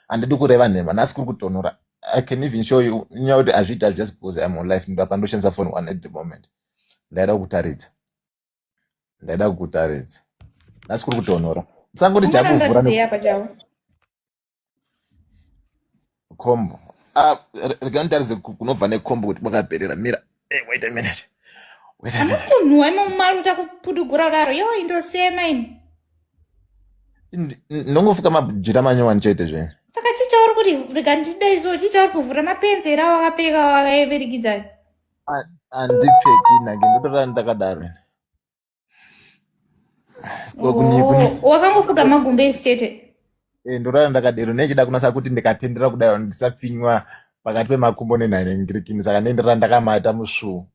handidi kureva nhema nhasi kuri kutonora i can even show you nyaya kuti hazviita just because iam on life ndapa ndoshandisa phone one at the moment ndaida kukutaridza ndaida kukutaridza nhasi kuri kutonora musangoti jakuvhura kombo ah, rega nditaridze kunobva nekombo kuti kwakaperera mira Hey, wait a minute. Wait a minute. Hamusi munhu wema mumari uta kuputugura kudaro. Yo indosema ini. Ndongofuka majira manyowani chete zvenyu. Saka chicha uri kuti rega ndida izo chicha uri kuvhura mapenzi here awakapfeka wakaeverikidza. Andipfeki nake ndotora ndakadaro. wakangofuka magumbe isi chete Eh, ndorara ndakadero nechida kunasa kuti ndikatendera kudai ndisapfinywa pakati pemakumbo nenhanengirikini saka nendera ndakamata musvuu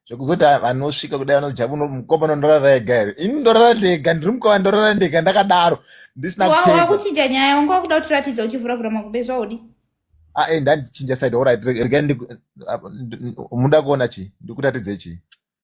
zvekuzoti vanosvika kudai vanojabu mukoma nondorara ega here ini ndorara ndega ndiri mukoma ndorara ndega ndakadaro ndisina kuchinja nyaya wanga wakuda kutiratidza uchivuravura makumbo ezvo audi ae ah, eh, ndandichinja side orit rega muda kuona chii ndikuratidze chii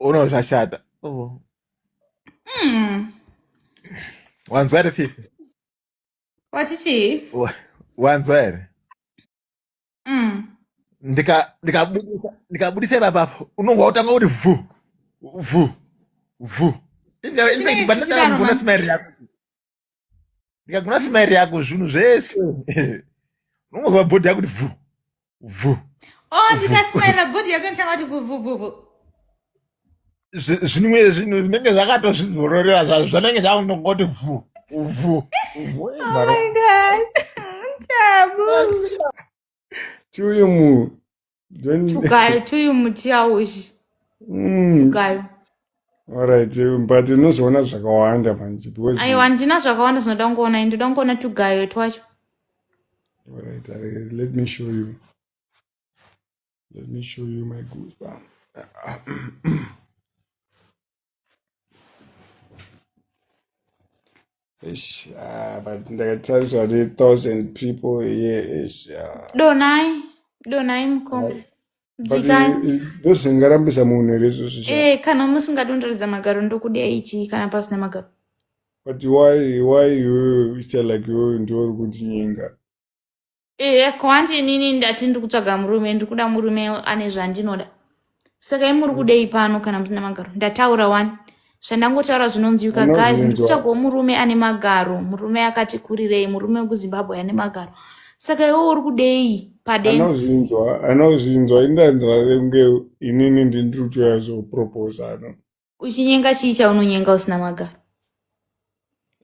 uno zvashata oh. mm. wanzwa here fifi wati chii wanzwa here mm. ndikabudisa nika nika ipapa apo unonga wotanga kuti vhu vhu vhu infact bandakaaona smile yako ndikagona simairi yako zvinhu zvese unongozwa bhodhi yakuti vhu vhu oh ndikasimaira bhodhi yako ndichanga kuti vhuvhuvhuvhu zvimwe zvinhu zvinenge zvakatozvizororera zvazvo zvanenge zvakunongoti vhu vhu vhu oh tiuye munhu tukayo tuyu muti yaushi mm. tukayo Alright, eh, but unozoona zvakawanda manje because aiwa handina zvakawanda zvinoda kungoona ini ndoda kungoona tugayo twacho Alright, I, let me show you. Let me show you my goosebump. Eish, ah, but ndakatariswa ne thousand people here eish, ah. donai donai mukoma but dzikai i- i- ndozvingarambisa munhu here izvozvo sha Eh, kana musingadondoredza magaro ndokudai chii kana pasina magaro but why why iwewe uchiita like iwewe ndiwe uri kundinyenga ehe ko hanti inini ndati ndiri kutsvaga murume ndiri kuda murume ane zvandinoda saka imuri kudei pano kana musina magaro ndataura wani zvandangotaura zvinonzwika guys Unozvinzwa. ndikutsvagawo murume ane magaro murume akati kurirei murume wekuzimbabwe ane magaro saka iwe uri kudei padeni anozvinzwa anozvinzwa indanzwa kunge inini ndindiri kuuya zoproposano uchinyenga chii chaunonyenga usina magaro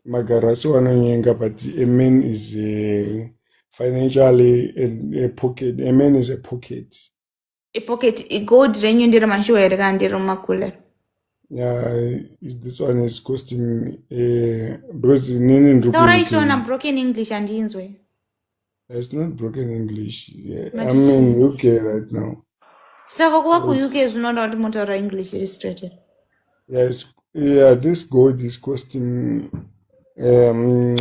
magaro asi wanonyenga but a man is a financially a, a pocket a man is a pocket a pocket a gold renyu ndiro mashuwa here kana ndiro makule yeah this one is costing uh, because nini ndiri taura ichiona broken english andinzwe It's not broken English. Yeah. I Matichi. mean, UK right now. Saka kuva ku UK zvinoda kuti motaura English iri straight here? Yeah, it's, yeah, this gold is costing um,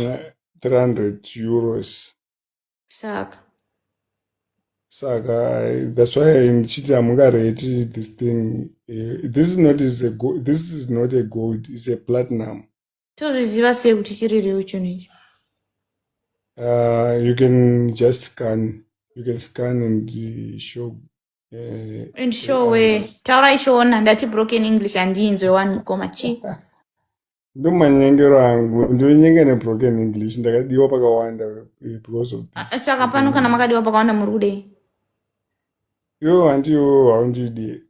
300 euros. Saka. Saka, that's why in Chiti Amungareti, this thing, uh, this is not is a gold, this is not a gold, it's a platinum. tozviziva sei kuti chiri real chinhu ichi uh, you can just scan you can scan and uh, show uh, and show where uh, taura ishona ndati broken english handiinzwe wani mukoma chii ndo manyengero angu ndinonyenge nebroken english ndakadiwa pakawanda eh, because of this ah, saka pano kana makadiwa pakawanda muri kudei yo handiwo haundidie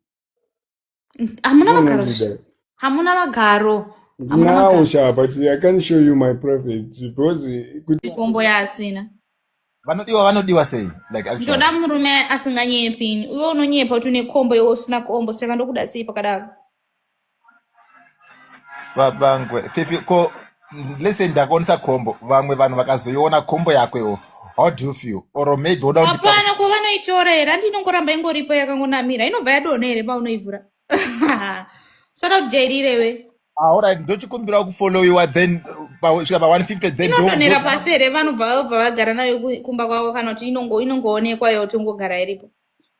N- hamuna Come on, magaro Angie, Dad. hamuna magaro hamuna Ndinawo magaro sha, but I can't show you my private because kuti kombo yaasina vanodiwa vanodiwa sei like actually ndoda murume asinganyepi ini iwe unonyepa kuti une kombo iwe usina kombo saka ndokuda sei pakadaro vabangwe fifi ko lese ndakaonesa khombo vamwe vanhu vakazoiona khombo yakwewo how do you feel or maybe oda hapana ko vanoitora here andi inongoramba ingoripo yakangonamira inobva yadona here paunoivhura soda kujairirewe aorit ah, ndochikumbirawo kufollowiwa then svika pa 150 then inodonhera pasi here vanobva vabva vagara nayo kumba kwavo kana kuti inongoonekwa yo tongogara iripo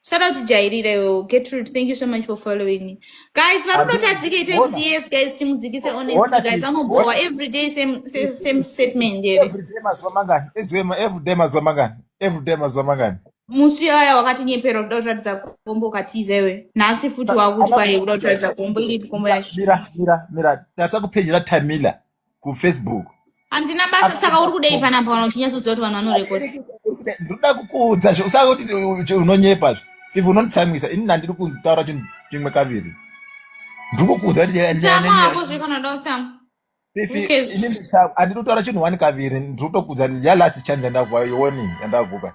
Shout out to Jairira, yo. Gertrude, thank you so much for following me. Guys, varikutadzika ite Bona. kuti yes, guys, timudzikise Bona, honestly, guys, sis. amobhowa Bona. every day same, same, same statement here. Every day mazuva mangani? Ezvema every day mazuva mangani? Every day mazuva mangani? Musi yaya wakatinyeperwa kuda kutaridza kombo ukatiza iwe. Nhasi futi wakuti Ana kwaye kuda kutaridza kombo, iri kombo yacho. mira mira mira tasa kupedzera Tamila. kufacebook handina basa saka uri kudei panapa kana uchinyatsoziva kuti vanhu vanorekoda ndoda kukuudza zve usaka kuti unonyepa zve fifa unonditsamwisa ini nandiri kutaura chinhu chimwe kaviri ndiri kukuudza kuti handiri kutaura chinhu one kaviri ndiri kutokuudza ya last chance yandakupa yoni yandakupa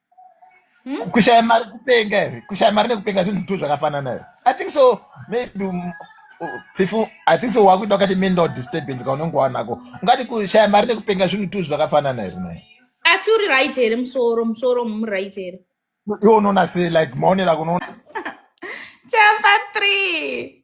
Hmm? kushaya mari kupenga here kushaya mari nekupenga zvinhu two zvakafanana here i think so maybe um, fifu i think so wakuita wakati mental disturbance kaunenge wanako ungati kushaya mari nekupenga zvinhu two zvakafanana here naye asi uri right here musoro musoro mu right here iwe unoona se like maonero akunoona chapa three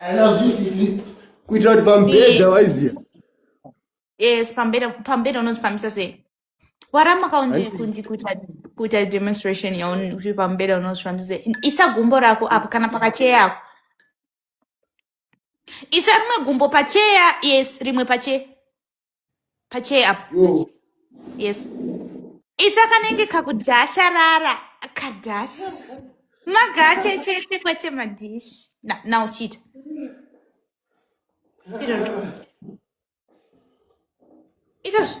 I love you sisi. Kuitira kuti pambedha Ni- waiziya. yes pambeda pambeda unozvifambisa sei waramba kaundi Hanzi kundi kuita kuita demonstration yaun uri pambeda unozvifambisa sei isa gumbo rako apo kana pakacheya yako isa rimwe gumbo pacheya yes rimwe pacheya pachee apo mm. yes ita kanenge kakudhasharara kadhash magache chete kwete madhish na uchiita itazvo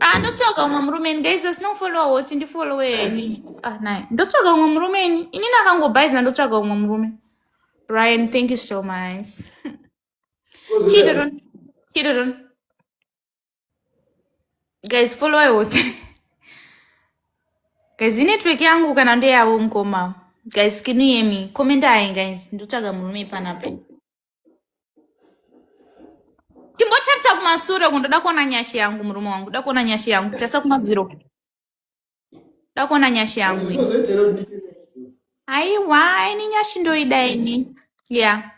Ah, ndotsvaga umwe murume ini guys asina kufollowa host ndifollowe ini ah, naye ndotsvaga umwe murume ini inini akangobhaizina ndotsvaga umwe murume brian thank you so much chidodon chidodon guys followa host guys inetwork yangu kana ndeyavo mukoma guys kinu yemi komendai guys ndotsvaga murume panapa Timbotarisa kumasure uko ndoda kuona nyasha yangu murume wangu. Ndoda kuona nyasha yangu. Tarisa kumadziro. Ndoda kuona nyasha yangu. iyi. Zvinozoita here kuti ndiite- Aiwa, ini nyashi ndoida ini. Yeah.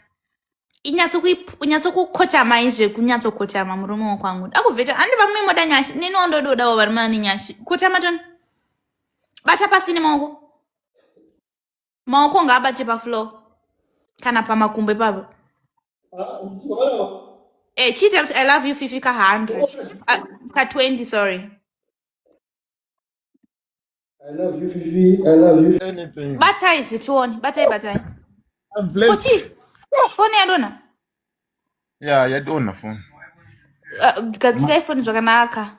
Inyatso kui unyatso kukotama izve kunyatso kotama murume wakwangu. Akuvheta handi vamwe moda nyashi. Nini ondododawo varume vane nyashi. Kotama toni. Bata pasi nemaoko. maoko ngaabate pafloor kana pamakumbo ipapo eh, chiita kuti i love you fifi ka 100 Ah, ka 20 sorry I love you, Fifi. I love you. Anything. batai zvitione batai batai I'm koti blessed. foni yadona Yeah, yadona phone. Ah, gadzika ifoni zvakanaka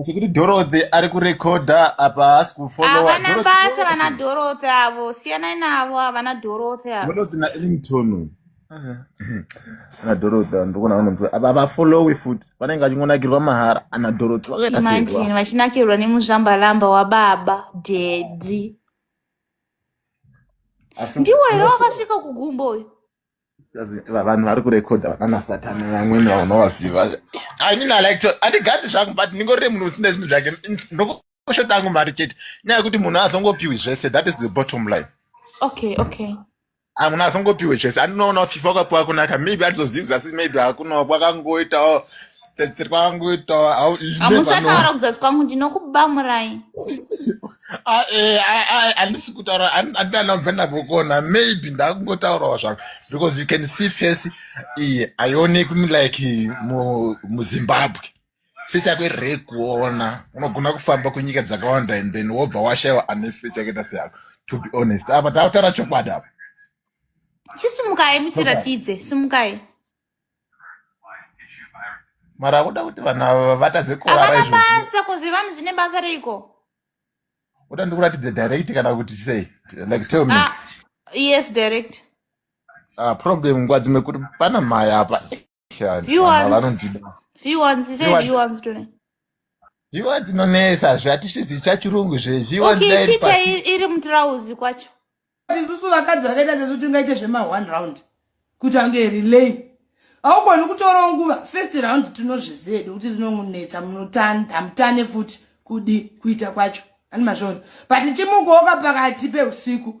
Asi kuti Dorothy ari kurekodha apa haasi kufollowa. Havana Dorothy, basa Dorothy. vana Dorothy avo, siyanai navo havana Dorothy avo. Dorothy na Ellington. Ana Dorothy vanhu ndikuona vanonzwa. Apa havafollowi futi. Vanenge vachingonakirwa mahara. Ana Dorothy vakaita sei Imagine kwa? vachinakirwa nemuzvambalamba wababa daddy. Asi Ndiwo here unosi- wakasvika kugumbo uyu? vanhu vari kurekodha vananasatani vamwene vanovaziva ainini alike andigadi zvangu but ndingorire munhu usina zvinhu zvake ndokushota angu mari chete nyaya yekuti munhu azongopiwi zvese that is the bottom line okay okay ah, munhu azongopiwe zvese andinoonawo fifa kwapiwa kunaka maybe andizozivi zasi maybe akunawo kwakangoitawo tsetse kwangu itawa hamusataura kuzasi kwangu ndinokubamurai ah, eh, ah, ah, handisi kutaura andianabva ndavokona maybe ndakungotaurawo zvangu because you can see face iye haionekwi like muzimbabwe face yako irei kuona unogona kufamba kunyika dzakawanda and then wobva washaiwa ane face yakaita seyako to be honest apa takutaura chokwadi apa chisimukai mutiratidze simukai mara akuda kuti vanhu ava vatadze kurara havana izvozvi basa ko zvevanhu zvine basa reiko uda ndikuratidze direct kana kuti sei like tell me ah, yes direct ah, problem nguva dzimwe kuti pana mhaya apa Shani, Few vanhu ava ones. vanondida few ones he said Few ones. few ones to me zviwa dzinonesa zve hatisizi chachirungu zve zviwa okay chita i- iri mutirauzi kwacho isusu vakadzi vakaita sesu tingaite zvema one round kuti ange relay haugoni kutorawo nguva first round tinozviziva hedu kuti rinomunetsa munotandamutane futi kudi kuita kwacho ani mazvona but chimukoka pakati peusiku